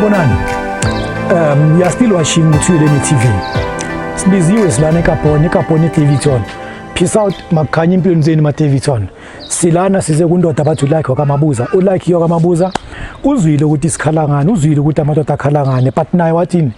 Bonani. Um, we are still watching Mutsueleni TV. Sibiziwe silana eKapon, eKapon eDavidson. Peace out makukhanya impilo zenu maDavidson. Silana size kundoda bathi ulike wakamabuza. Ulike yokwamabuza. Uzwile ukuthi sikhala ngani, uzwile ukuthi amadoda akhala ngani, but naye wathini?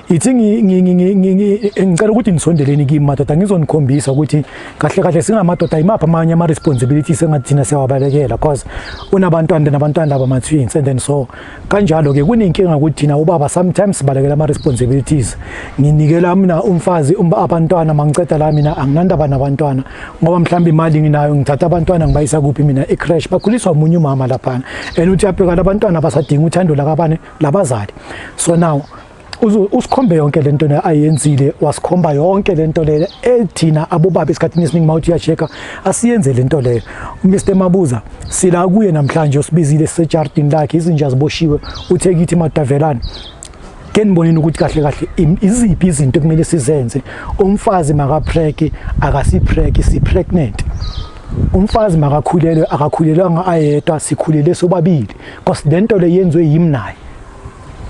ithi ngicela ukuthi nisondeleni kimi madoda ngizonikhombisa ukuthi kahle kahle singamadoda yimaphi amanye ama-responsibilities engathi thina siyawabalekela cause unabantwana nabantwana laba ma-twins and then so kanjalo-ke kunenkinga ukuthi thina ubaba sometimes sibalekela ama-responsibilities nginikela mina umfazi um, abantwana mangiceda la mina anginandaba nabantwana ngoba mhlawumbe imali nginayo ngithatha abantwana ngibayisa kuphi mina ecrash bakhuliswa omunye umama laphana and uthi uyabheka labantwana basadinga uthando lakabani labazali so now usikhombe yonke lento le ayenzile wasikhomba yonke lento le ethina abobaba esikhathini esiningi mawuthi uyasheka asiyenze lento le Mr Mabuza sila kuye namhlanje usibizile sejardin lakhe izinja ziboshiwe uthe kithi madavelana ke niboneni ukuthi kahle kahle iziphi izinto kumele sizenze umfazi makapreke akasipreke si pregnant umfazi makakhulelwe akakhulelwanga ayedwa sikhulele sobabili Because lento le yenzwe yimi naye.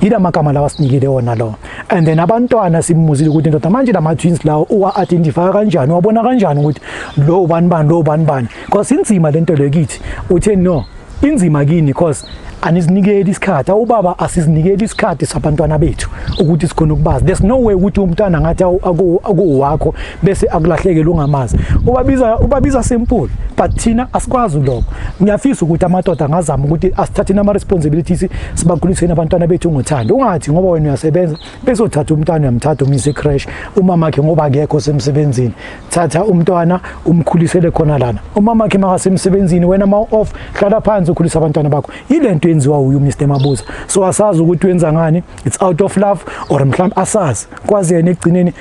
Yila magama lawa sinikile wona lo. And then abantwana simuzile ukuthi ndoda manje lama twins lawo uwa identify kanjani wabona kanjani ukuthi lo ubani bani lo ubani bani. Because inzima lento le kithi. Uthe no inzima kini because anizinikeli isikhathi awubaba asizinikeli isikhathi sabantwana bethu ukuthi sikhona ukubazi there's no way ukuthi umntwana ngathi akuwakho bese akulahlekele ungamazi ubabiza ubabiza simple but thina asikwazi lokho ngiyafisa ukuthi amadoda angazama ukuthi asithatheni ama responsibilities sibakhuliseni abantwana bethu ngothando ungathi ngoba wena uyasebenza bese uthatha umntwana uyamthatha umyise crash umama wakhe ngoba akekho semsebenzini thatha umntwana umkhulisele khona lana umama wakhe makasemsebenzini wena ma off hlala phansi ukhulisa abantwana bakho ilento yenziwa uyu Mr Mabuza so asazi ukuthi wenza ngani it's out of love or mhlawumbe asazi kwazi yena ekugcineni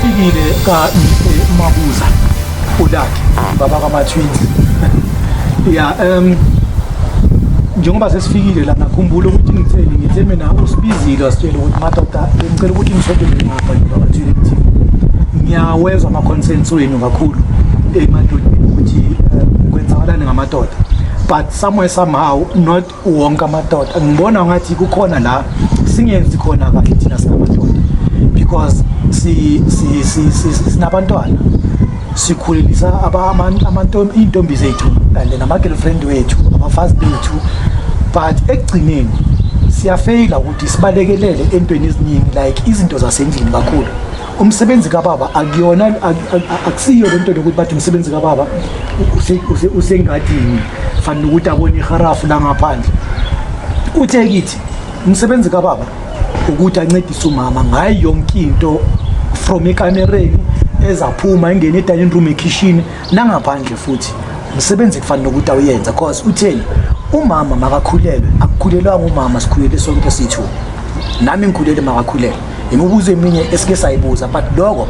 Sifikile ka Mabuza udakhe baba kaMathwins ya um njengoba sesifikile la ngakhumbula ukuthi ngitheni ngithe mina usibizile wasitshela ukuthi madoda ngicela ukuthi ngisondele ngapha ngibathile kuthi ngiyawezwa ama-consents wenu kakhulu emadodeni ukuthi um, kwenzakalani ngamadoda but somewhere somehow not wonke amadoda ngibona ngathi kukhona la singenzi khona kahle thina singamadoda because si si si sinabantwana sikhulelisa amantombi iy'ntombi zethu and nama-girlfriend wethu abafazi bethu but ekugcineni siyafeyila ukuthi sibalekelele entweni eziningi like izinto zasendlini kakhulu umsebenzi kababa akuyona akusiyo le nto lokuthi bathi umsebenzi kababa usengadini fanele ukuthi abone iharafu la ngaphandle uthe kithi umsebenzi kababa ukuthi ancedise umama ngayo yonke into from ekamereni ezaphuma engene edining room ekhishini nangaphandle futhi umsebenzi kufanele ukuthi awuyenza cause utheni umama makakhulelwe akukhulelwanga umama sikhulele sonke sithu nami ngikhulele makakhulelwe imibuzo eminye esike sayibuza but lokho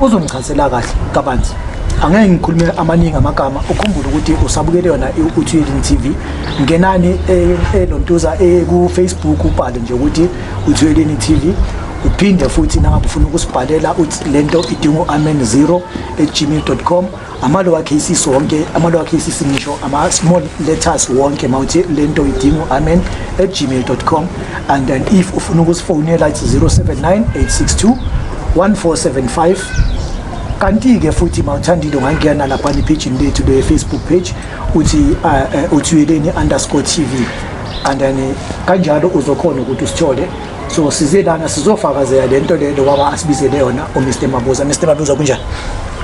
uzongichazela kahle kabanzi angeke ngikhulume amaningi amagama ukhumbule ukuthi usabukele yona uthuyelini TV ngenani eh, elontuza eh, eh, ku Facebook ubhale nje ukuthi uthuyelini TV uphinde futhi nangabe ufuna ukusibhalela uthi lento idingo amen 0 at gmail.com ama-lower cases wonke ama-lower cases ngisho ama-small letters wonke mawuthi le nto idingo amen at gmail com and then if ufuna ukusifonela it's 079 862 1475 kanti-ke futhi mawuthandile ungangena laphana ephejini lethu le-facebook page uthi uh, uh, uthuyeleni underscore tv and then eh, kanjalo uzokhona ukuthi usithole so size lana sizofakazela le nto le lokwaba asibizele yona umr mabuza mr mabuza kunjani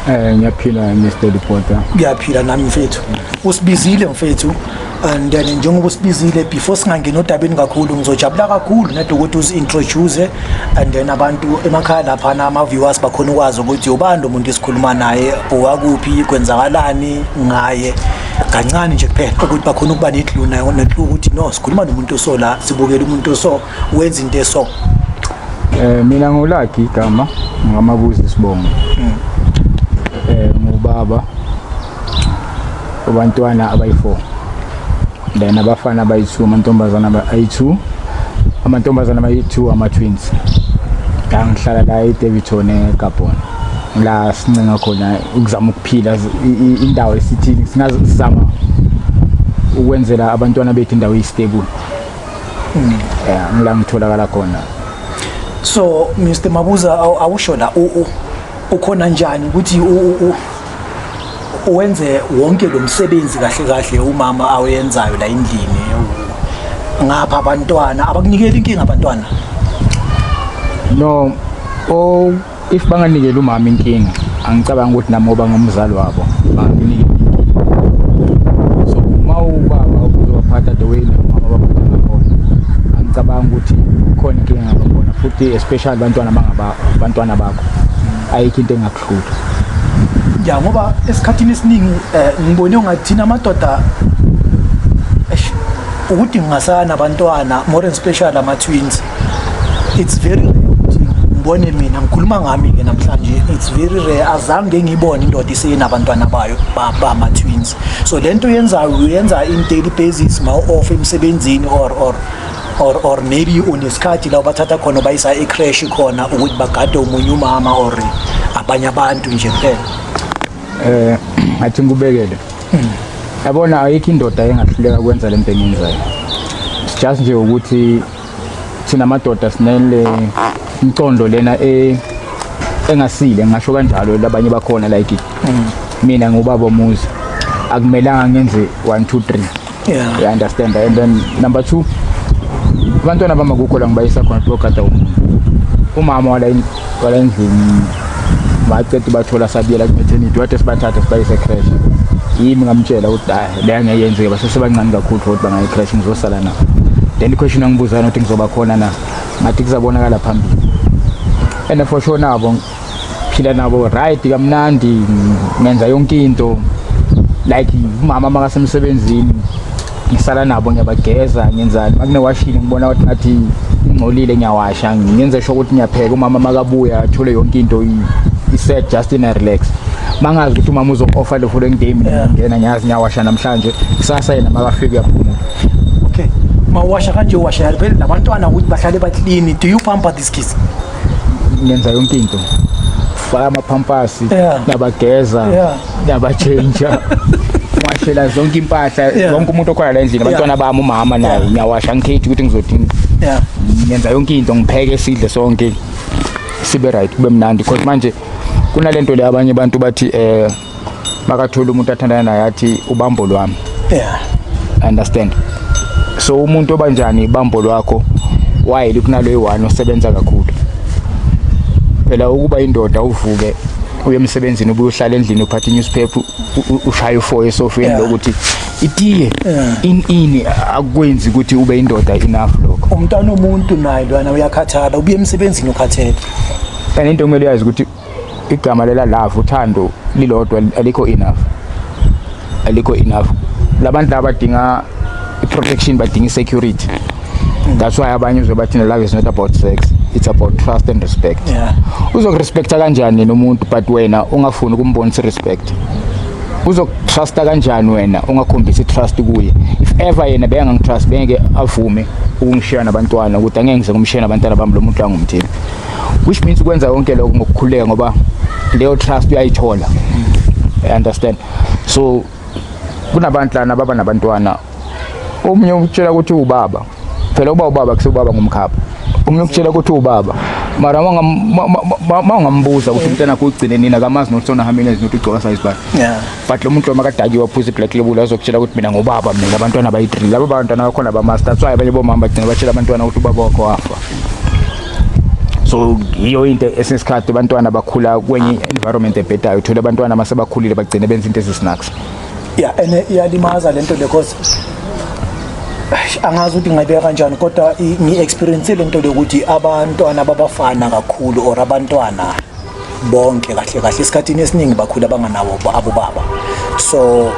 Eh ngiyaphila Mr Reporter. Ngiyaphila nami mfethu. Usibizile mfethu and then njengoba usibizile before singangena odabeni kakhulu ngizojabula kakhulu nado ukuthi uzi-introduce and then abantu emakhaya laphana ama-viewers bakhona ukwazi ukuthi ubani lo muntu esikhuluma naye owakuphi kwenzakalani ngaye kancane nje kuphela ukuthi bakhona ukuba nedlu nayo nethlu ukuthi no sikhuluma nomuntu oso la sibukela umuntu oso wenza into eso eh mina ngolagi igama ngamabuzi sibongo hmm. eh ngubaba abantwana abayi4 then abafana abayi2 amantombazana abayi2 amantombazana abayi2 ama twins ngihlala la eDeviton eGabon la sincenga khona ukuzama phila indawo esithini singaze sizama ukwenzela abantwana bethu indawo eyistable hmm. yeah ngila ngitholakala khona so Mr Mabuza awusho la u ukhona njani ukuthi u wenze wonke lo msebenzi kahle kahle umama awenzayo la endlini ngapha abantwana abakunikela inkinga abantwana no o if banganikela umama inkinga angicabanga ukuthi nami ngoba ngumzali wabo banginikela inkinga so uma ubaba uzobaphatha the way nomama babaphatha ngakhona angicabanga ukuthi khona inkinga ngabakhona futhi especially bantwana bantwana bakho ayikho into engakuhlutha ya ngoba esikhathini esiningi eh, ngibone ungathina amadoda ukuthi ngingasana abantwana more especially ama-twins it's very rare ukuthi ngibone mina ngikhuluma ngami ke namhlanje it's very rare azange ngibone indoda isenabantwana bayo bama twins so lento uyenzayo uyenza in daily basis ma off emsebenzini or or or or maybe unesikhathi la bathatha khona bayisa ecrash khona ukuthi bagade umunye umama or abanye abantu nje kuphela eh ngathi ngikubekele hmm. yabona ayikho indoda engahluleka kwenza lento enyenzayo just nje ukuthi thina madoda sinele imcondo lena e engasile ngisho kanjalo labanye bakhona like mm. mina ngubaba omuzi akumelanga ngenze 1 2 3 yeah you understand and then number 2 abantwana bama kukho la ngibayisa khona lokho kade umama wala kwala endlini baceda ubathola sabiyela kumethenidi wade sibathatha sibayise crash yimi ngamtshela ukuthi hayi le angeke yenzeke basesebancane kakhulu for ukuthi bangayi crash ngizosala na then iquestion angibuzana ukuthi ngizoba khona na ngathi kuzabonakala phambili and for sure nabo phila nabo right kamnandi ngenza yonke into like umama makasemsebenzini ngisala nabo ngiyabageza ngenzani makune washini ngibona ukuthi ngathi ingcolile ngiyawasha ngenze sho ukuthi ngiyapheka umama makabuya athole yonke into iset just in a relax mangazi ukuthi umama uzo-offer le following day mina ngena ngiyazi ngiyawasha namhlanje kusasa yena makafika uyaphumula okay mawasha kanje washa yalibele nabantwana ukuthi bahlale baklini do you pamper this kids ngenza yonke into faka amapampasi nabageza ngiyabatshentsha ngashela zonke impahla Yeah. wonke umuntu okhona la endlini abantwana bami umama naye ngiyawasha ngikhethi ukuthi ngizodini Yeah. ngenza yonke into ngipheke sidle sonke sibe right kube mnandi because manje kunalento le abanye abantu bathi eh makathola umuntu athandana naye athi ubambo lwami Yeah. understand so umuntu obanjani ibambo lwakho wayeli kunalo eyi-one osebenza kakhulu phela ukuba indoda uvuke uye emsebenzini ubuye uhlala endlini uphatha i-newspaper ushaye ufoye esofeni yeah. lokuthi itiye yeah. in ini akwenzi ukuthi ube indoda enough lokho umntwana omuntu naye lwana uyakhathala ubuye emsebenzini ukhathele and into kumele uyazi ukuthi igama lela love uthando lilodwa alikho enough alikho enough labantu laba badinga protection badinga security that's why abanye uzobathi ne love is not about sex it's about trust and respect yeah. uzokurespecta kanjani nomuntu but wena ungafuni ukumbonisa respect uzokutrusta kanjani wena ungakhombisa itrust kuye if ever yena beyangangitrust bengeke avume ukungishiya nabantwana ukuthi angeke ngize ngumshiya nabantwana bami lo muntu angumthembi which means ukwenza konke lokho ngokukhuleka ngoba leyo trust uyayithola mm. understand so kunabantu lana baba nabantwana omunye ukutshela ukuthi ubaba phela uba ubaba kusubaba ngumkhapha omunye ukutshela ukuthi ubaba mara mangambuza ukuthi umntana kugcine nina kamazi nokuthi sonahambile nokuthi ugcoka size bani but lo muntu lo makadakiwe waphuza i-black label azokutshela ukuthi mina ngubaba mina abantwana bayi-three laba bantwana bakhona bamazi that's why abanye bomama bagcina batshela abantwana ukuthi ubaba wakho wafa so yiyo into esinesikhathi abantwana bakhula kwenye environment ebhedayo uthola abantwana uma sebakhulile bagcine benza into ezisnacks ya ene iyalimaza lento because angazi ukuthi ngayibeka kanjani kodwa ngi-experience le nto lokuthi abantwana babafana kakhulu or abantwana bonke kahle kahle esikhathini esiningi bakhula banganawo abo baba so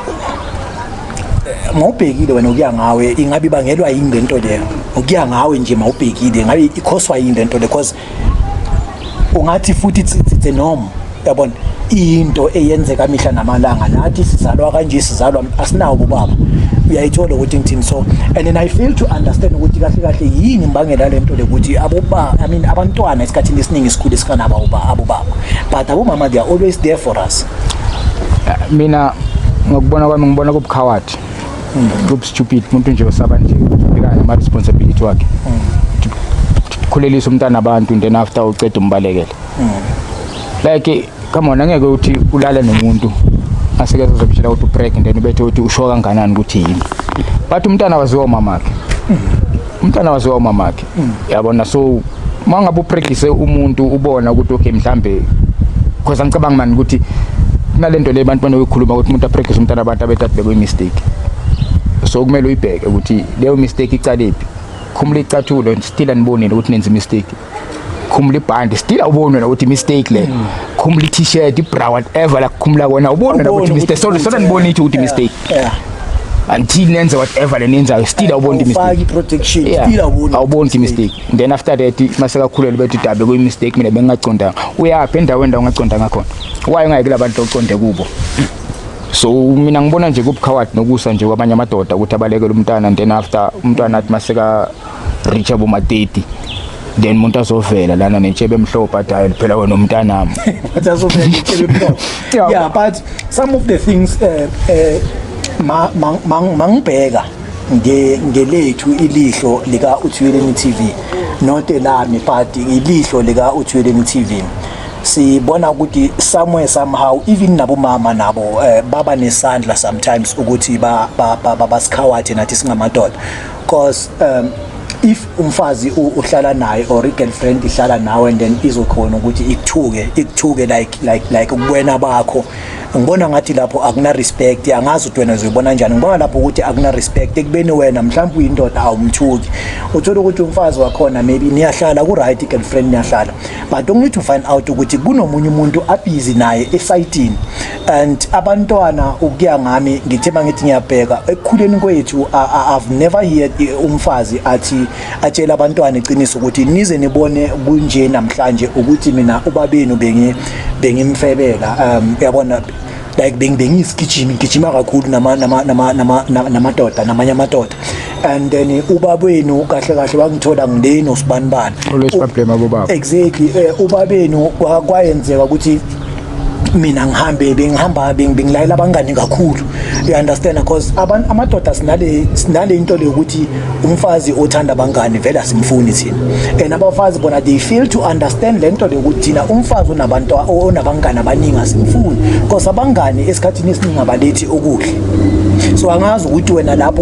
eh, mawubhekile wena ukuya ngawe ingabe ibangelwa yini le nto leyo ukuya ngawe nje mawubhekile ngabe ikhoswa yini le nto le because ungathi futhi it's, it's a norm yabona into eyenzeka mihla namalanga nathi sizalwa kanje sizalwa asinawo ubaba uyayithola ukuthi ngithini so and then i feel to understand ukuthi kahle kahle yini imbangela lento lekuthi aboba i mean abantwana esikhathini abaningi sikhule sifana abo baba but abomama they are always there for us mina ngokubona kwami ngibona kubukhawati hmm. kubustupid umuntu nje osaba nje ubhekana nama responsibility wakhe hmm. khulelisa umntana abantu then after uceda umbalekele hmm. like come on angeke uthi ulale nomuntu asike sizokutshela ukuthi upreg then ubethe uthi usho kanganani ukuthi yini but umntana waziwa umamakhe umntana waziwa umamakhe yabona so uma ngabe upregise umuntu ubona ukuthi okay mhlambe because angicabanga mani ukuthi kunalento le abantu banoyikhuluma ukuthi umuntu apregise umntana abantu abethi athi bekuyimistake so kumele uyibheke ukuthi leyo mistake icalephi khumula icathulo still anibonile ukuthi nenza imistake khumula ibhandi still awuboni wena ukuthi mistake le hmm. khumula i-t-shirt ibra whatever la kukhumula kona uboni wena ukuthi mistake sorry sona nibona ithi ukuthi mistake until nenze whatever le nenzayo still awuboni imistake protection still awuboni awuboni imistake then after that masekakhulele bethi dabe kuyi mistake mina bengingacondanga uyaphi endaweni la ungacondanga khona why ungayeki labantu oconde kubo so mina ngibona nje kubukhawadi nokusa nje kwabanye amadoda ukuthi abalekele umntana then after umntwana athi maseka richa boma 30 then umuntu azovela lana nentshebe emhlophe adayile phela wena umntanami but azovela intshebe emhlophe yeah but some of the things eh eh ma mangibheka nge ngelethu ilihlo lika uthweleni TV not elami but ilihlo lika uthweleni TV sibona ukuthi somewhere somehow even nabomama nabo eh, baba nesandla sometimes ukuthi ba basikhawathi nathi singamadoda cause um if umfazi uhlala naye or i-girlfriend ihlala nawe and then izokhona ukuthi ikuthuke ikuthuke like like like ubuwena bakho ngibona ngathi lapho akuna respect angazi ukuthi wena uzoyibona njani ngibona lapho ukuthi akuna respect ekubeni wena mhlawumbe uyindoda awumthuki uthola ukuthi umfazi wakhona maybe niyahlala ku right girlfriend niyahlala but only to find out ukuthi kunomunye umuntu abhizi naye esayitini and abantwana ukuya ngami ngithe mangithi ngiyabheka ekukhuleni kwethu i've never heard umfazi athi atshela abantwana iqiniso ukuthi nize nibone kunje namhlanje ukuthi mina ubabenu bengi bengimfebela um yabona like bengiyisigijimi ngigijima kakhulu nama nama nama namadoda namanye amadoda and then eh, ubabenu kahle kahle wangithola ngileni usibani bani always problem abobaba exactly eh, ubabenu kwayenzeka ukuthi mina ngihambe bengihamba bengilayela abangani kakhulu you understand because abantu amadoda sinale sinale into le ukuthi umfazi othanda abangani vele asimfuni thina and abafazi bona they feel to understand le nto le ukuthi thina umfazi onabantu onabangani abaningi asimfuni because abangani esikhathini esiningi abalethi okuhle so angazi ukuthi wena lapho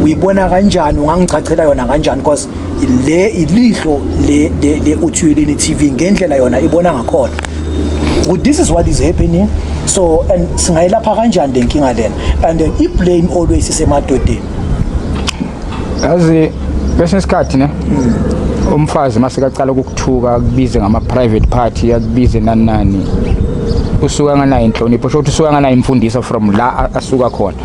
uyibona kanjani ungangichachela yona kanjani because le ilihlo le le uthuyeleni TV ngendlela yona ibona ngakhona ukuthi this is what is happening so and singayilapha kanjani lenkinga lena and then i blame always isemadodeni yazi kwesinye isikhathi ne umfazi uma sekacala ukukuthuka akubize ngama-private party akubize nani nani usuke anganayo inhlonipho sho ukuthi usuke anganayo imfundiso from la asuka khona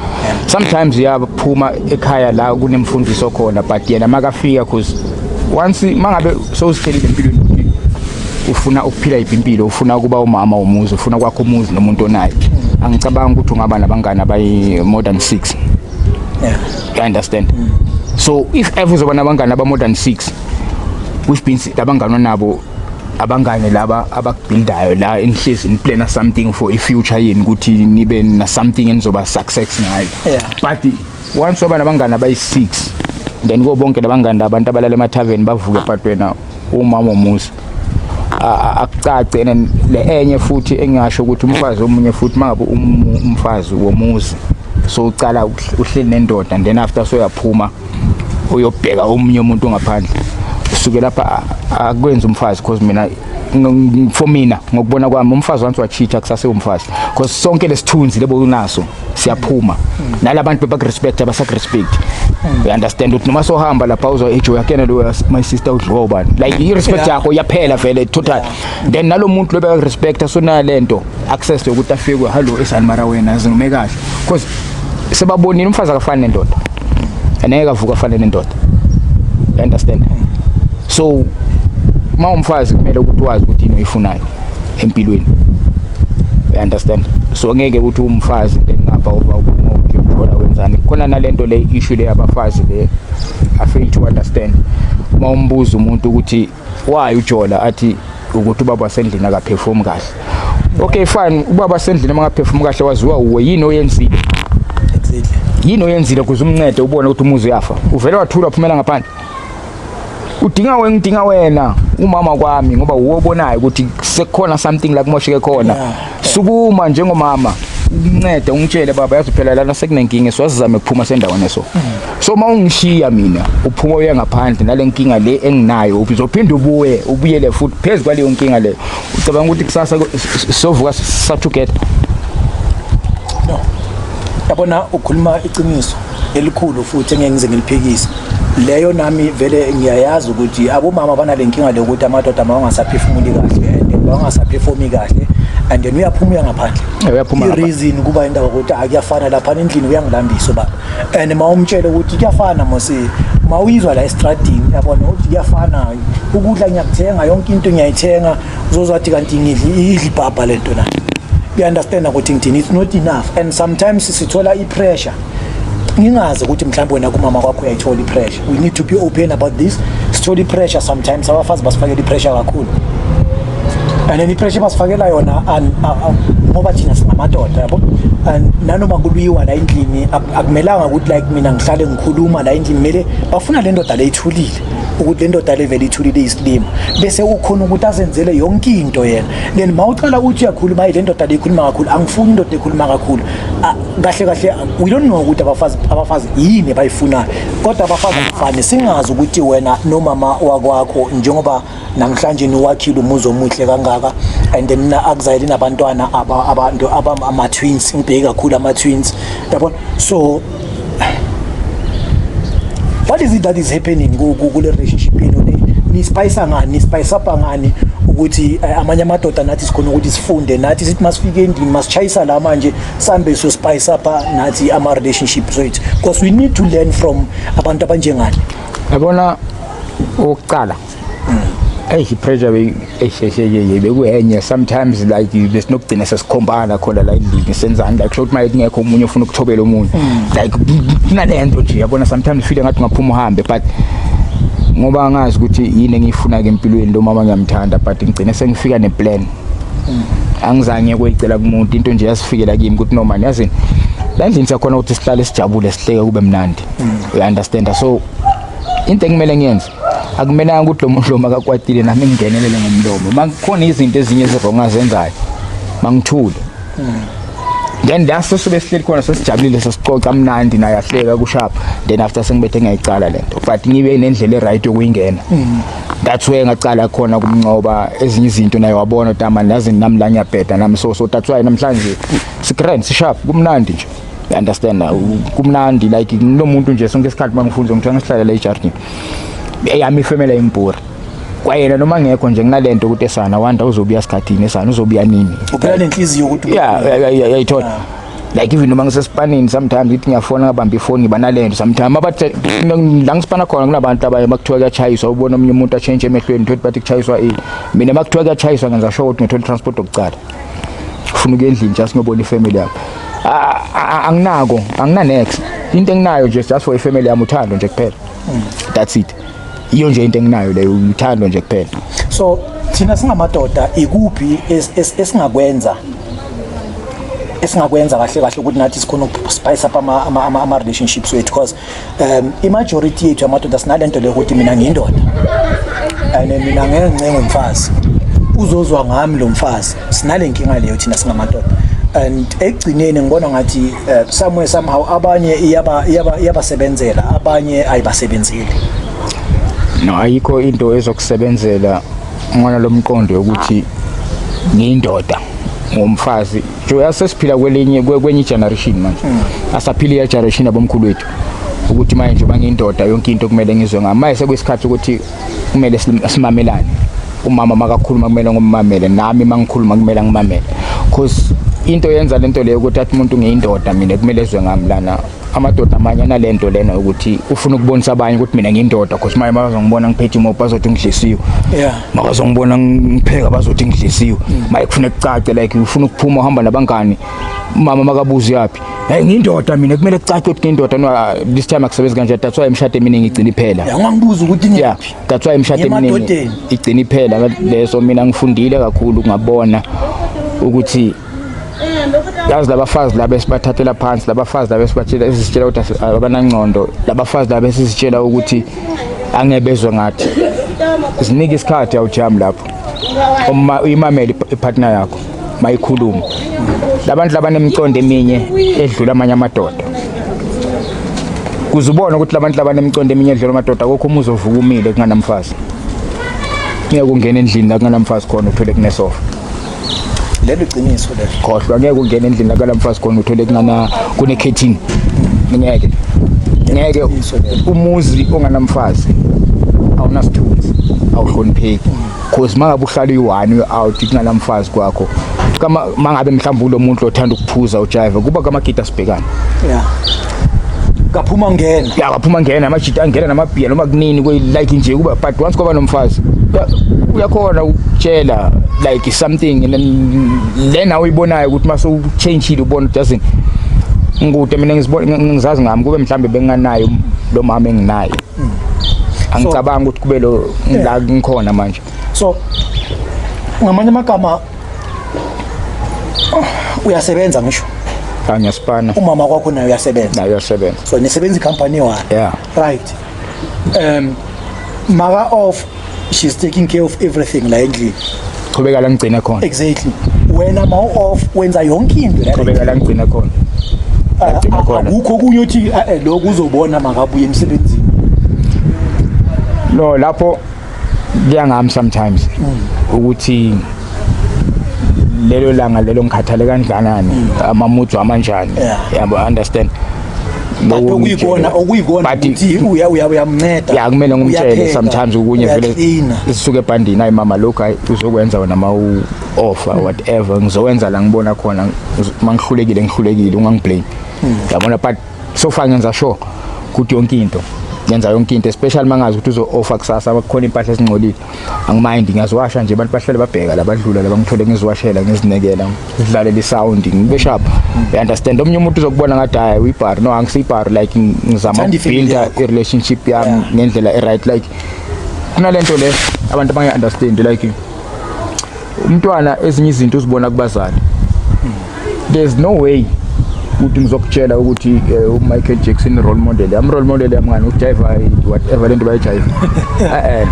sometimes uyaphuma ekhaya la kunemfundiso khona but yena makafika cause once mangabe sowuzithelile empilweni ufuna ukuphila yiphi impilo ufuna ukuba umama womuzi ufuna kwakho umuzi nomuntu onayo angicabangi ukuthi ungaba nabangani abayi-more than six yeah. you understand mm. so if ever uzoba nabangani aba more than 6 which means labangani onabo abangane laba abakubuildayo la enihlezi niplana something for i-future yenu ukuthi nibe na something enizoba success ngayo yeah. but once waba nabangane abayi-six then ko bonke labangane abantu abalala emathaveni bavuke but wena umama omuzi akucace and le enye futhi engingasho ukuthi umfazi omunye futhi mangabe umfazi womuzi so ucala uhleli nendoda and then after soyaphuma uyobheka omunye umuntu ngaphandle usuke lapha akwenza umfazi because mina for mina ngokubona kwami umfazi once wacheater kusase umfazi because sonke lesithunzi lebo unaso siyaphuma nalabantu bebakurespect abasakurespect you understand ukuthi noma sohamba lapha uzwa ejo yakena lo my sister udliwa ubani like i respect yakho yaphela vele total then nalomuntu lo bekurespect asona lento access yokuthi afikwe hello esani mara wena zinume kahle because sebabonile umfazi akafani nendoda aneke avuka afane nendoda you understand so uma umfazi kumele ukuthi wazi ukuthi yini oyifunayo empilweni you understand so ngeke uthi umfazi ngapha uba ukungokuthi uthola wenzani khona nalento le issue le abafazi le i fail to understand uma umbuza umuntu ukuthi why ujola athi ukuthi ubaba wasendlini akaperform kahle okay fine ubaba wasendlini uma akaperform kahle waziwa uwe yini oyenzile yini oyenzile kuze umncede ubone ukuthi umuzi uyafa uvele wathula uphumela ngaphandle udinga wena ngidinga wena umama kwami ngoba wuwo obonayo ukuthi sekukhona something la kumosheke khona sukuma njengomama uncede ungitshele baba yazi phela lana sekunenkinga siwazizame kuphuma sendaweni so so uma ungishiya mina uphuma uye ngaphandle nale nkinga le enginayo uzophinde ubuye ubuyele futhi phezu kwaleyo nkinga leyo ucabanga ukuthi kusasa sovuka sathugetha no yabona ukhuluma iqiniso elikhulu futhi engeke ngize ngiliphikise leyo nami vele ngiyayazi ukuthi abomama banale nkinga lokuthi amadoda mawangasaphefumuli kahle and mawangasaphefumi kahle and then uyaphuma uya ngaphandle uyaphuma i-reason kuba indaba ukuthi akuyafana lapha endlini uyangilambisa ubaba and ma umtshele ukuthi kuyafana mose ma uyizwa la estradini yabona ukuthi kuyafana ukudla ngiyakuthenga yonke into ngiyayithenga uzozwathi kanti ngidli idli ibhabha lento na uyaunderstanda ukuthi ngithini it's not enough and sometimes sithola i-pressure ngingazi ukuthi mhlawumbe wena kumama kwakho uyayithola i-pressure we need to be open about this sithola i-pressure sometimes abafazi basifakela i-pressure kakhulu and then i-pressure basifakela yona ngoba thina singamadoda yabo and nanoma kubiyiwa la endlini akumelanga ukuthi like mina ngihlale ngikhuluma la endlini kumele bafuna le ndoda le ithulile ukuthi le ndoda le vele ithulile isilima bese ukhona ukuthi azenzele yonke into yena then mawuqala uthi uyakhuluma hayi le ndoda le ikhuluma kakhulu angifuni indoda ekhuluma kakhulu kahle kahle we don't know ukuthi abafazi abafazi yini bayifunayo kodwa abafazi abafani singazi ukuthi wena nomama wakwakho njengoba namhlanje niwakhile umuzi omuhle kangaka and then mina akuzayile nabantwana abantu abama twins ngibheke kakhulu ama twins yabona so what is it that is happening kule relationship yenu ni spice ngani ni spice up ngani ukuthi eh, amanye amadoda nathi sikhona ukuthi sifunde nathi sithi masifike endini masichayisa la manje sambe so spice up nathi ama relationships wethu because we need to learn from abantu abanjengani yabona ukuqala eyi i-pressure bekuyenye sometimes like besinokugcina sesikhombana khona la endlini senzani like sho ukuthi maye kungekho omunye ofuna ukuthobela omunye mm. like kunale nto nje yabona sometimes ufile ngathi ungaphuma uhambe but ngoba angazi ukuthi yini engiyifuna-ke empilweni lo mama ngiyamthanda but ngigcine sengifika neplan angizange kuyicela kumuntu into nje yasifikela kimi ukuthi no man yazini landlini siyakhona ukuthi sihlale sijabule sihleke kube mnandi you understand so into ekumele ngiyenze akumelanga ukuthi lo muntu lo makakwatile nami ngingenelele ngomlomo makukhona izinto ezinye ezirong azenzayo mangithule then la sesube sihleli khona sesijabulile sesixoxa mnandi naye ahleka kushapha then after sengibethe ngiyayicala lento but ngibe nendlela e-right yokuyingena that's where ngaqala khona kumncoba ezinye izinto naye wabona tama nazi nami la ngiyabheda nami so so that's why namhlanje si grand si sharp kumnandi nje you understand kumnandi like nginomuntu nje sonke isikhathi mangifunza ngithiwa ngisihlale la ejardini eyami ifemela imbhura kwayena noma ngekho nje kunalento ukuthi esana wanda uzobuya sikhathini esana uzobuya nini uphela nenhliziyo ukuthi yeah yayithola like even noma ngisesipanini sometimes ngithi ngiyafona ngabamba ifoni ngiba nalento sometimes abathi la ngisipana khona kunabantu abaye bakuthiwa kuyachayiswa ubona omunye umuntu atshentshe emehlweni thothi bathi kuchayiswa ini mina makuthiwa kuyachayiswa ngenza sure ukuthi ngithola transport yokucala ufuna ukuya endlini just ngiyobona ifamily yakho anginako anginanex into enginayo nje just for ifamily yami uthando nje kuphela that's it iyo nje into enginayo leyo uthando nje kuphela so thina singamadoda ikuphi esingakwenza esingakwenza kahle kahle ukuthi nathi sikhona ukuspice up ama-relationships wethu because um i-majority yethu yamadoda sinale nto leyo ukuthi mina ngiyindoda and mina ngeke ncengo mfazi uzozwa ngami lo mfazi sinale nkinga leyo thina singamadoda and ekugcineni ngibona ngathi eh, somewhere somehow abanye iyaba iyaba iyabasebenzela abanye ayibasebenzeli no ayikho into ezokusebenzela ngona lomqondo yokuthi ngiyindoda ngomfazi nje asesiphila kwelinye kwenye generation manje hmm. asaphila iya generation abomkhulu wethu ukuthi manje njengoba ngiyindoda yonke into kumele ngizwe ngami manje sekuyisikhathi ukuthi kumele simamelane umama makakhuluma kumele ngimamele nami mangikhuluma kumele ngimamele because into yenza lento leyo ukuthi athi umuntu ngiyindoda mina kumele ezwe ngami lana amadoda amanye analento lena ukuthi ufuna ukubonisa abanye ukuthi mina ngiyindoda because maye bazongibona ngiphethe imoto bazothi ngidlisiwe yeah makazongibona ngipheka bazothi ngidlisiwe mm. maye kufuna kucace like ufuna ukuphuma uhamba nabangani mama makabuzi yaphi Hey ngindoda mina kumele kucace ukuthi ngindoda no ah, this time akusebenzi kanje that's why imshado eminingi igcina iphela. Yeah ngangibuza ukuthi ngiphi. Yeah that's why imshado eminingi igcina iphela leso mina ngifundile kakhulu ngabona ukuthi yazi labafazi laba esibathathela phansi labafazi laba esibatshela esisitshela ukuthi abanangcondo labafazi laba esisitshela ukuthi angebezwe ngathi zinike isikhathi awujam lapho uma uyimamele ipartner yakho bayikhuluma labantu labanemicondo eminye edlula amanye amadoda kuze ubone ukuthi labantu labanemicondo eminye edlula amadoda kokho umuzi ovuka umile kunganamfazi ngeke ungena endlini la kunganamfazi khona uthole kunesofa lelo iqiniso lelo khohlwa ngeke ungena endlini la kunganamfazi khona uthole kungana kune catering ngeke ngeke umuzi onganamfazi awunasithunzi awuhlonipheki cause mangabe uhlala iwani out kunala mfazi kwakho kama mangabe mhlawumbe ulo muntu othanda ukuphuza ujive kuba kamagida sibhekana yeah kaphuma ngena ya kaphuma ngena amajita angena namabhiya noma kunini kwe like nje kuba but once kwaba nomfazi uyakhona ukutshela like something lena uyibonayo ukuthi mase uchangile ubona doesn't ngikude mina ngizazi ngami kube mhlambe benginganayo lo mama enginaye angicabangi ukuthi kube lo la ngikhona manje so ngamanye amagama uyasebenza ngisho cha ngiyasipana umama kwakho naye uyasebenza naye uyasebenza so nisebenza i-company one yeah right um maka off she's taking care of everything la endlini qhubeka la ngigcina khona exactly wena ma off wenza yonke into la qhubeka la ngigcina khona ah, ngigcina ah, khona akukho okunye uthi ah, eh, lokho uzobona makabuye emsebenzini no lapho kuyangami sometimes mm. ukuthi mm. lelo langa lelo ngikhathale kanjani amamudu amanjani yabo understand Kanti okuyikona okuyikona ukuthi uya uya uyamnceda. Ya kumele ngumtshele sometimes ukunye vele sisuke ebhandini ayi mama lokho ayi uzokwenza wena ma u offer hmm. whatever ngizowenza la ngibona khona mangihlulekile ngihlulekile ungangiblame. Hmm. Yabona but so far ngenza sure ukuthi yonke into ngenza yonke into especially mangazi ukuthi uzo offer kusasa bakhona impahla ezingcolile angimayindi ngiyaziwasha nje abantu bahlale babheka labadlula labangithole ngiziwashela ngizinekela ngidlalela isound ngibe sharp i understand omunye umuntu uzokubona ngathi hayi uyibar no angisiyibar like ngizama ukubuilda i-relationship yami ngendlela e-right like kunalento le abantu abangayi-understand like umntwana ezinye izinto uzibona kubazali there's no way ukuthi ngizokutshela ukuthi eh, uMichael Jackson role model am role model yamngani ujayiva whatever lento bayijayiva eh, eh.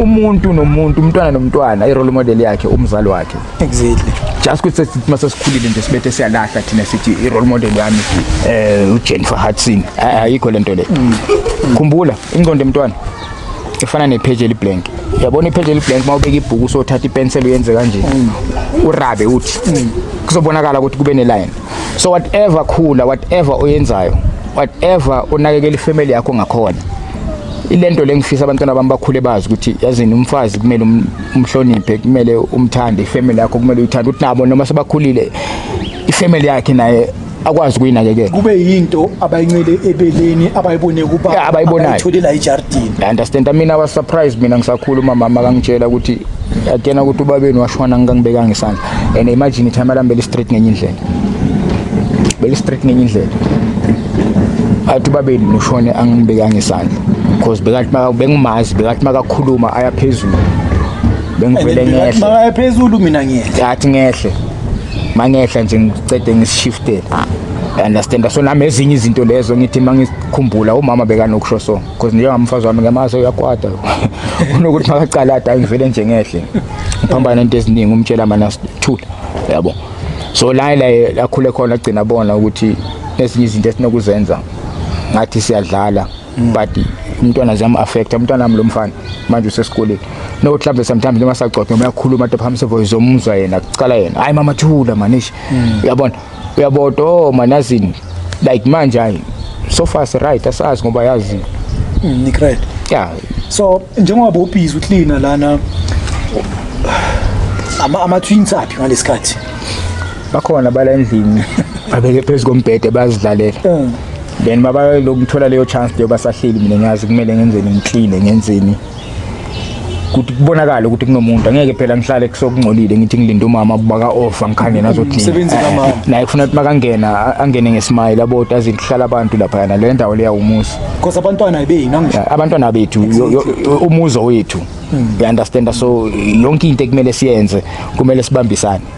umuntu nomuntu umntwana nomntwana i role model yakhe umzali wakhe exactly just ukuthi sithima sesikhulile nje sibethe siyalahla thina sithi i role model yami eh uJennifer Hudson ayikho lento le mm. khumbula ingqondo emntwana ifana nepheji eliblank yabona ipheji eliblank uma ubeka ibhuku usothatha ipenseli uyenze kanje mm. urabe uthi mm. kuzobonakala ukuthi kube neline so whatever khula whatever oyenzayo whatever unakekela ifamily yakho ngakhona ilento lengifisa abantwana bami bakhule bazi ukuthi yazini umfazi kumele um-, umhloniphe kumele umthande ifamily yakho kumele uyithande ukuthi nabo noma sebakhulile ifamily yakhe naye akwazi ukuyinakekela kube yinto abayincele ebeleni abayibone kuba abayibonayo itholela ijardini i understand i mean i was surprised mina ngisakhuluma mama akangitshela ukuthi atena ukuthi ubabeni washona ngangibekanga isandla and imagine time alambele street ngenye indlela bele street ngenye indlela athi ubabeni noshone angibekanga isandla because bekathi bengumazi bekathi makakhuluma ayaphezulu bengivele ngehle makayaphezulu mina ngiyehle athi ngehle mangehla nje ngicede ngisishifte understand so nami ezinye izinto lezo ngithi mangikhumbula umama bekanokusho so because njengamfazi wami ngemaso uyakwata unokuthi makacalada angivele nje ngehle ngiphambana into eziningi umtshela mana sithula yabo so la la akhule khona agcina bona ukuthi ezinye izinto esinokuzenza ngathi siyadlala Mm. but umntwana ziyamu-affecta umntwana wami lo mfana manje usesikoleni nokuthi mhlawumbe sometimes noma sagcotha noma uyakhuluma into phambi sevoice omuzwa yena kucala yena hhayi mama thula manishi mm. uyabona uyabota o oh, manazini like manje hayi so far si-right asazi ngoba yazi mm, nikright ya so njengoba bobhizi uklina lana ama-twins aphi ngalesi khathi bakhona bala endlini babeke phezu kombhede bazidlalela then baba lokuthola leyo chance leyo basahleli mina ngiyazi kumele ngenzeni ngiclean ngenzeni ukuthi kubonakala ukuthi kunomuntu angeke phela ngihlale kusokungcolile ngithi ngilinde umama baka off angikhanye nazothini naye kufuna ukuthi makangena angene ngesmile aboti azihlala abantu lapha yana le ndawo leya umuzi because abantwana beyini angisho abantwana bethu umuzo wethu hmm. you understand so yonke into ekumele siyenze kumele sibambisane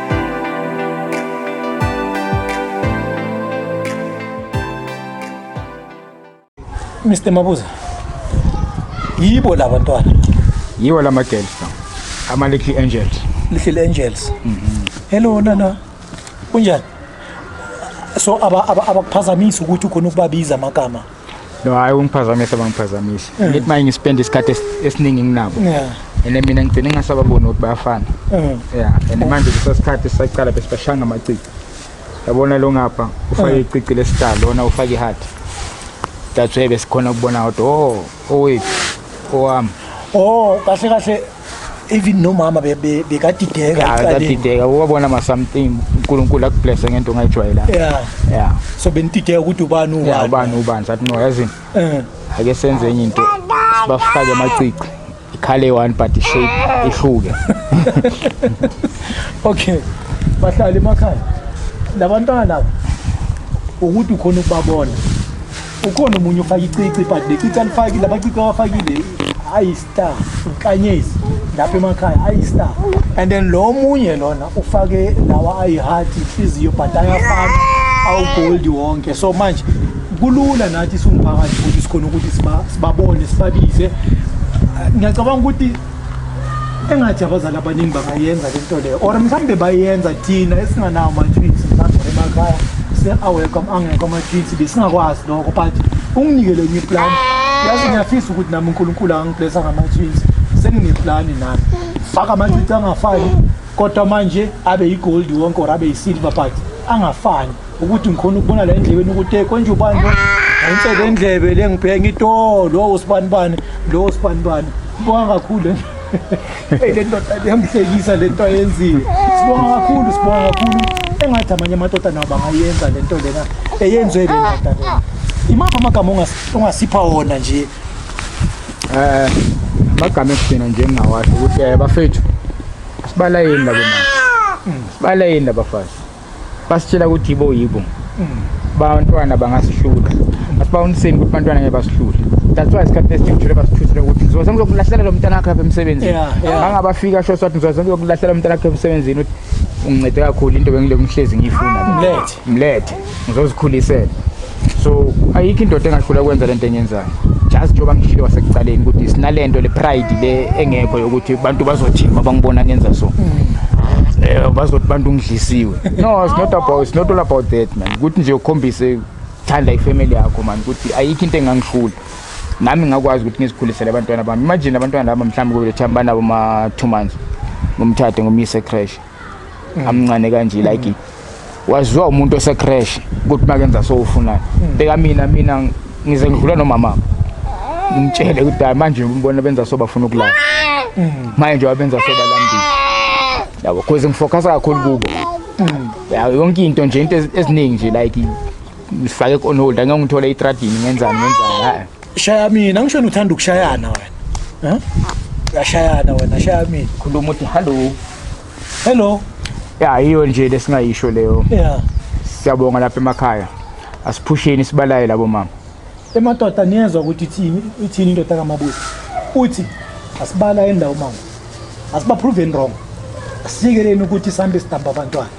Mr Mabuza yibo laba ntwana yiwo lama girls ama little angels little angels mhm mm hello nana kunjani so abakuphazamisa ukuthi ukhona ukubabiza amagama no hayi ungiphazamise bangiphazamisa mm. ngithi manje ngispend isikhathi esiningi nginabo yeah ene mina ngigcine ngasababona ukuthi bayafana mm. yeah and manje kusesikhathi sisaqala bese bashanga amacici yabona lo ngapha ufake mm. icici lestar lona ufake iheart that's why besikhona ukubona ukuthi oh owethu owami oh kahle kahle even nomama bekadideka yeah, kadideka ukwabona ma something uNkulunkulu akublesse ngento ongayijwayela yeah yeah so benidideka ukuthi ubani ubani yeah, ubani ubani sathi no yazini eh ake senze enye into sibafake amacici ikhale one but shape ihluke okay bahlali emakhaya labantwana ukuthi ukhona ukubabona ukhona omunye ufake icici but le cici alifakile abacici abafakile ayi-star unkanyezi lapha emakhaya ayi-star and then lo omunye lona ufake lawa ayi-heart ihliziyo but ayafana awugoldi wonke so manje kulula nathi siwumphakathi ukuthi sikhona ukuthi sibabone sibabize ngiyacabanga ukuthi engathi abazali abaningi bangayenza le nto leyo or mhlawumbe bayenza thina esinganawo ama-twins mhlawumbe emakhaya se-awekho angekho ama-twins besingakwazi lokho but unginikele enye iplani yazi ngiyafisa ukuthi nami unkulunkulu angiblesa ngama-twins sengineplani nami faka amacici angafani kodwa manje abe yigoldi wonke or abe yisilver but angafani ukuthi ngikhona ukubona la endlebeni ukuthi eh, konje ubani lo ngayinhle le ndlebe le ngibheka ngithi o lowo usibanibani lowo usibanibani sibonga kakhulu eyi le ndoda yamhlekisa le nto ayenzile sibonga kakhulu sibonga kakhulu engathi amanye amadoda nawo bangayenza le nto lena eyenzwe le ndoda lena imaphi amagama ongas- ongasipha wona nje Eh magama ekugcina nje engingawasho ukuthi eh bafethu sibalayeni labo manje. Sibalayeni laba bafazi. basitshela ukuthi yibo yibo mm. bantwana bangasihluka asibawuniseni ukuthi bantwana ngeke basihlule that's why isikhathi esiningi ngijule basithusile ukuthi ngizobe sengizokulahlela lo mntana wakhe apha emsebenzini angabafika sho sathi ngizobe sengizokulahlela umntana wakhe emsebenzini ukuthi ungincede kakhulu into bengiloku ngihlezi ngiyifuna mlethe mlethe ngizozikhulisela so ayikho indoda engahlula ukwenza lento enyenzayo just njengoba ngishile wasekuqaleni ukuthi sinalento le pride le engekho yokuthi abantu bazothini uma bangibona ngenza so eh bazothi bantu ngidlisiwe no it's not about it's not all about that man ukuthi nje ukhombise thanda ifamily yakho man ukuthi ayikho into engangihlula nami ngakwazi ukuthi ngizikhulisele abantwana bami imagine abantwana laba mhlawumbe kube le time banabo ma 2 months ngomthathe ngomyise crash mm. amncane kanje like mm. waziwa umuntu ose crash ukuthi makenza so ufunani mm. beka mina mina ngize ngidlula nomama ngitshele ukuthi hayi manje umbona benza so bafuna ukulala mm. manje wabenza so balambile yabo cause ngifocus kakhulu kubo mm. yawo yonke into nje into eziningi nje like ngifake on hold angeke ngithole itradini ngenzani ngenzani shaya mina ngisho wena uthanda ukushayana wena eh? uyashayana wena shaya mina khuluma uthi hallo hello ya yiyo nje lesingayisho leyo yeah siyabonga lapha emakhaya asiphusheni sibalaye labo mama emadoda niyezwa ukuthi ithini ithini indoda kamabusi uthi asibala endawo mama asibaproveni wrong asikeleni ukuthi sambe sidamba abantwana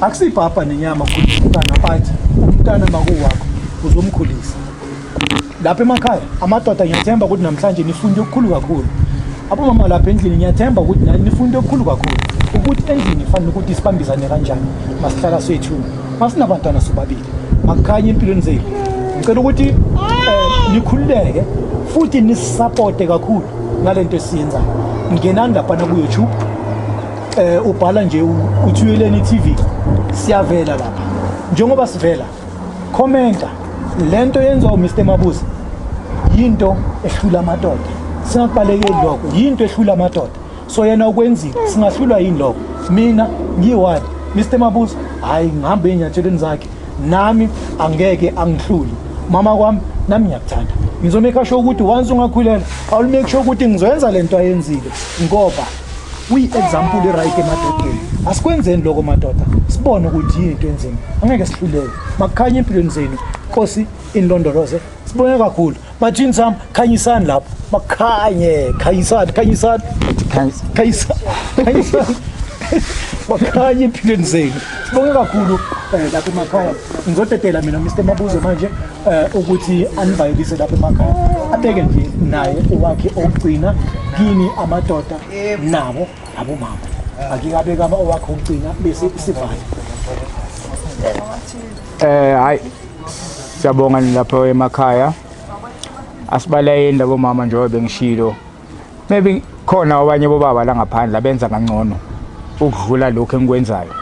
akusibhabha nenyama ukhulisa umntana but umntana makuwakho uzomkhulisa lapha emakhaya amadoda ngiyathemba ukuthi namhlanje nifunde okukhulu kakhulu abomama lapha endlini ngiyathemba ukuthi nani nifunde okukhulu kakhulu ukuthi endlini kufanele ukuthi sibambisane kanjani masihlala swethu masinabantwana sobabili makukhanye empilweni zenu ngicela ukuthi um nikhululeke futhi nisisapote kakhulu ngale nto esiyenzayo ngenani laphana kuyoutube Eh ubhala nje uthuyeleni TV siyavela lapha. Njengoba sivela commenta lento yenziwa uMr Mabuza yinto ehlula amadoda. Singakubalekeli lokho yinto ehlula amadoda. So yena ukwenzile singahlulwa yini lokho. Mina ngiwani Mr Mabuza hayi ngihamba enyatsheleni zakhe nami angeke angihluli mama kwami nami ngiyakuthanda ngizomeka sho ukuthi once ungakhulela awulumeki sho ukuthi ngizoyenza lento ayenzile ngoba kuyi-example eright emadodeni asikwenzeni lokho madoda sibone ukuthi yini into enzima angeke sihluleke makukhanye empilweni zenu nkosi inilondoloze sibone kakhulu bathini sami khanyisani lapho makukhanye khanyisani khanyisani khanyisani bakhanye empilweni zenu sibonge kakhulu um lapho emakhaya ngizodedela mina mr mabuzo manje eh ukuthi anivayelise lapha emakhaya abeke nje naye owakhe okugcina kini amadoda nabo abomama akikabeka ama owakhe okugcina bese sivale eh hayi siyabonga lapha emakhaya asibalayeni labo mama njengoba bengishilo maybe khona abanye bobaba la ngaphandle abenza kangcono ukudlula lokho engikwenzayo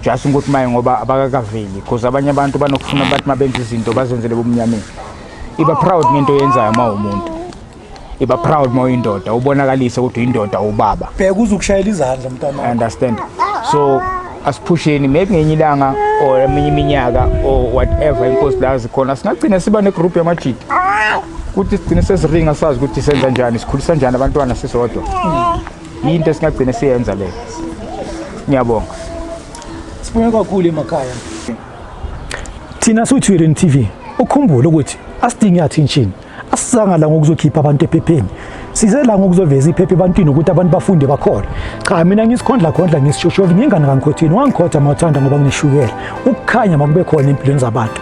just ukuthi maye ngoba abakakaveli because abanye abantu banokufuna bathi uma benza izinto bazenzele bomnyameni iba proud ngento yenzayo uma umuntu iba proud uma uyindoda ubonakalise ukuthi uyindoda ubaba bheka uze ukushayela izandla mntana understand so asiphusheni maybe ngenye ilanga or eminye iminyaka or whatever inkosi la zikhona singagcina siba negroup yamajidi ukuthi sigcine sesiringa sazi ukuthi senza njani sikhulisa njani abantwana sisodwa yinto esingagcine siyenza leyo ngiyabonga sibone kakhulu emakhaya thina siwuthwirini tv ukhumbule ukuthi asidingi attention asizanga la ngokuzokhipha abantu ephepheni size la ngokuzoveza iphepha ebantwini ukuthi abantu bafunde bakhole cha mina ngisikhondla khondla ngisishoshovi ngingane kankhothini wangikhotha mawuthanda ngoba ngineshukela ukukhanya makube khona empilweni zabantu